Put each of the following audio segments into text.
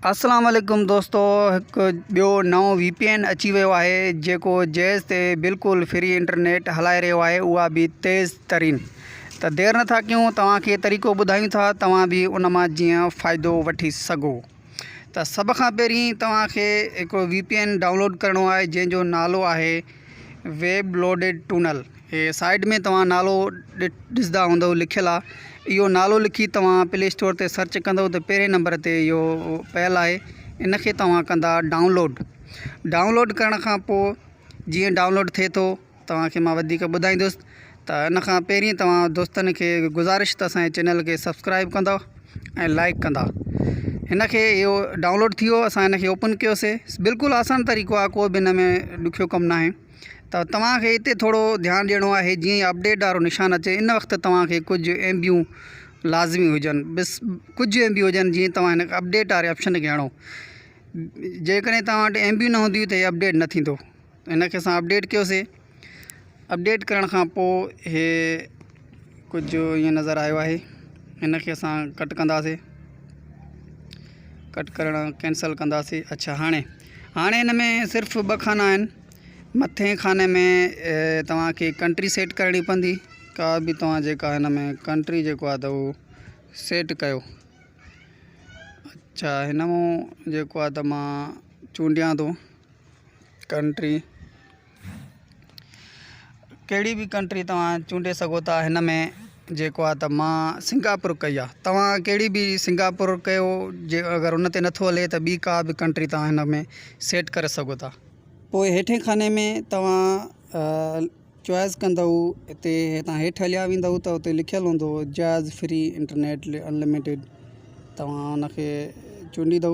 اسلام عليڪم دوستو هڪ ٻيو نئون وي پي اين اچي ويو آهي جيڪو جيز تي بلڪل فري انٽرنيٽ هلائي رهيو آهي اها به تيز ترين ته دير نه ٿا ڪيون توهان کي طريقو ٻڌايون ٿا توهان به ان مان جيئن فائدو وٺي سگهو ته سڀ کان پهرين توهان کي هڪ وي پي اين ڊائونلوڊ ڪرڻو آهي جنهن جو نالو آهي ويب لوڊيڊ ٽونل هي سائيڊ ۾ توهان نالو ڏسندا هوندو لکيل آ اهو نالو لکي توهان پلي اسٽور تي سرچ ڪندو ته پهرين نمبر تي اهو پيل آهي ان کي توهان ڪندا ڊائونلوڊ ڊائونلوڊ ڪرڻ کان پوء جيئن ڊائونلوڊ ٿئي ٿو توهان کي مان وڌيڪ ٻڌائيندس ته ان کان پهرين توهان دوستن کي گذارش ته اسانجي چينل کي سبسڪرائب ڪندو ۽ لائڪ ڪندا هن کي اهو ڊائونلوڊ ٿي ويو اسان هن کي اوپن ڪيوسي بلڪل آسان طريقو آهي ڪو به هن ۾ ڏکيو ڪم ناهي ته توهان کي هتي ٿورو ڌيان ڏيڻو آهي جيئن ئي اپڊيٽ وارو نشان اچي ان وقت توهان کي ڪجهه ايم بيون لازمي هجن بس ڪجهه ايم بي هجن جيئن توهان هن اپڊيٽ واري آپشن کي هڻو جيڪڏهن توهان وٽ ايم بيون نه هونديون ته هي اپڊيٽ نه ٿيندو هن کي اسان اپڊيٽ ڪيوسي اپڊيٽ ڪرڻ کان پوء هي ڪجهه ايئن نظر آيو آهي هن کي اسان ڪٽ ڪنداسي ڪٽ ڪرڻ ڪينسل ڪنداسي اچھا هاڻي هاڻي هن ۾ صرف ٻه کانا آهن مٿين کاني ۾ توهانکي ڪنٽري سيٽ ڪرڻي پوندي ڪا به توهان جيڪا هن ۾ ڪنٽري جيڪو آهي ته هو سيٽ ڪيو اچھا هن مون جيڪو آهي ته مان چونڊيان ٿو ڪنٽري ڪهڙي به ڪنٽري توهان چونڊي سگهو ٿا هن ۾ جيڪو آهي ته مان سنگاپور ڪئي آهي توهان ڪهڙي به سنگاپور ڪيو جي اگر ان تي نٿو هلي ته ٻي ڪا به ڪنٽري توهان هن ۾ سيٽ ڪري سگهو ٿا پوء هيٺين خاني ۾ توهان چوائس ڪندو هتي هتان هيٺ هليا ويندو ته هتي لکيل هوندو جاز فري انٽرنيٽ انلميٽيڊ توهان ان کي چونڊيدو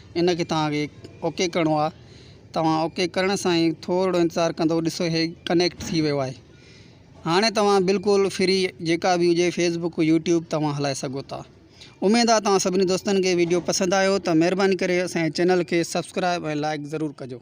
ان کي توهان کي اوڪي ڪرڻو آهي توهان اوڪي ڪرڻ سان ئي ٿورڙو انتظار ڪندو ڏسو هي ڪنيڪٽ ٿي ويو آهي هاڻي توهان بلڪل فري جيڪا به هجي فيسبڪ يوٽيوب توهان هلائي سگهو ٿا اميد آهي توهان سڀني دوستن کي ويڊيو پسند آيو ته مهرباني ڪري اسان جي چينل کي سبسڪرائب ۽ لائڪ ضرور ڪجو